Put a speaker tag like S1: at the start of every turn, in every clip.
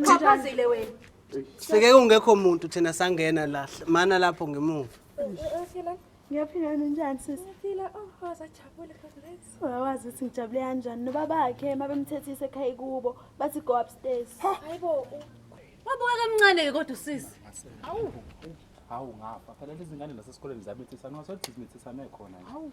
S1: Uxhaphazile
S2: wena. Seke kungekho
S3: muntu thina sangena lahle. Mana lapho ngemuva.
S2: Ngiyaphila ninjani sisi? Ngiyaphila. Oh, wasajabule congrats. Wawazi ukuthi ngijabule kanjani nobabakhe mabemthethise ekhaya kubo bathi go upstairs. Hayibo. Wabuka kamncane ke kodwa usisi.
S4: Hawu. Hawu ngafa. Phela lezi ngane nasesikoleni zabethisa nxa sothi zimethisa mekhona. Hawu.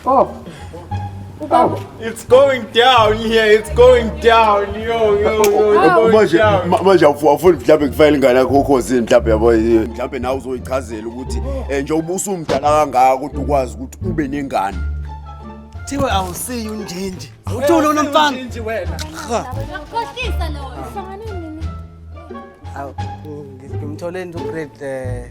S3: Stop.
S5: Stop. It's going down here. It's going down. Yo, yo, yo. It's going manje down.
S1: ma- manje awufu- awufuni mhlawumbe kufayela ingane yakho okhosini mhlawumbe yabo eh, mhlawumbe nawe uzoyichazela ukuthi um njengoba usumdala kangaka ukuthi ukwazi ukuthi ube nengane Thiwe
S3: awusiyi unjinji. Uthule unomfana. Nje wena.
S5: Uyakhohlisa loyo.
S3: Awu, ngimthole nje ugrade eh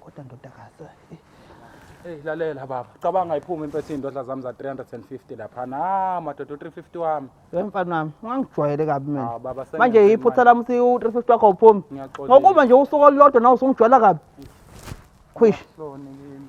S2: kodwa ndodakazi
S3: eh. Hey
S4: lalela baba, cabanga iphuma impethe indodla zami za 350 lapha. Na madoda 350 wami. Hey mfana wami,
S3: ungangijwayele kabi mina. Ah baba sengathi. Manje iphutha
S4: lami si
S3: 350 wakho uphumi. Ngokuba nje
S4: usuku olulodwa
S3: nawe usungijwayela kabi. Khwish. Lona yini?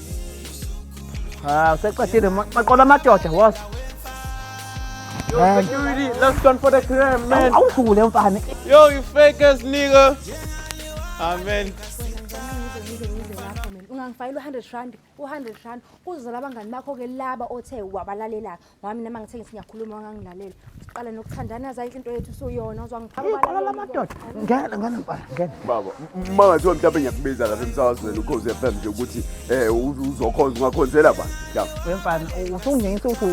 S3: Ah, useqedile ma- maqola amadoda was. Man, Security, last one for the crime, man. awudlule mfana. Yo, you fake
S6: ass nigga. Amen.
S2: ungangifayela u-hundred rand u-hundred rand kuzozala abangani bakho-ke laba othe wabalalelaka wami nama ngithe ngithi ngiyakhuluma wangangilalela siqale nokuthandana yazi ayinhle into yethu usuyona uzwa ngiphakala la madoda ngena
S3: ngena mfana ngena baba uma
S1: ngathiwa mhlawumbe ngiyakubiza lapha emsakazweni ukhozi FM nje ukuthi eh uzokhonza ungakhonzela ba ya mfana
S3: usungingisa ukuthi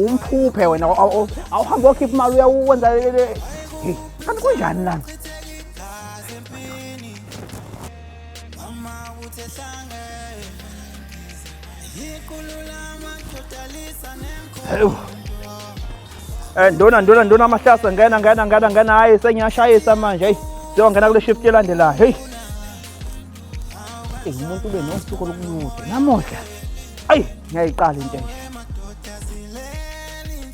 S3: umphuphe wena awuhambe okhipha imali uyawenza kanti kunjani lana Mama uthe hlange Yiqulula amadotalisa nenkomo Eh ndona ndona ndona amahlasa ngena ngena ngena ngena hayi sengiyashayisa manje hey siyongena kule shift elandelayo hey Hey umuntu ube nosuku olukunude namuhla ayi ngiyayiqala into enje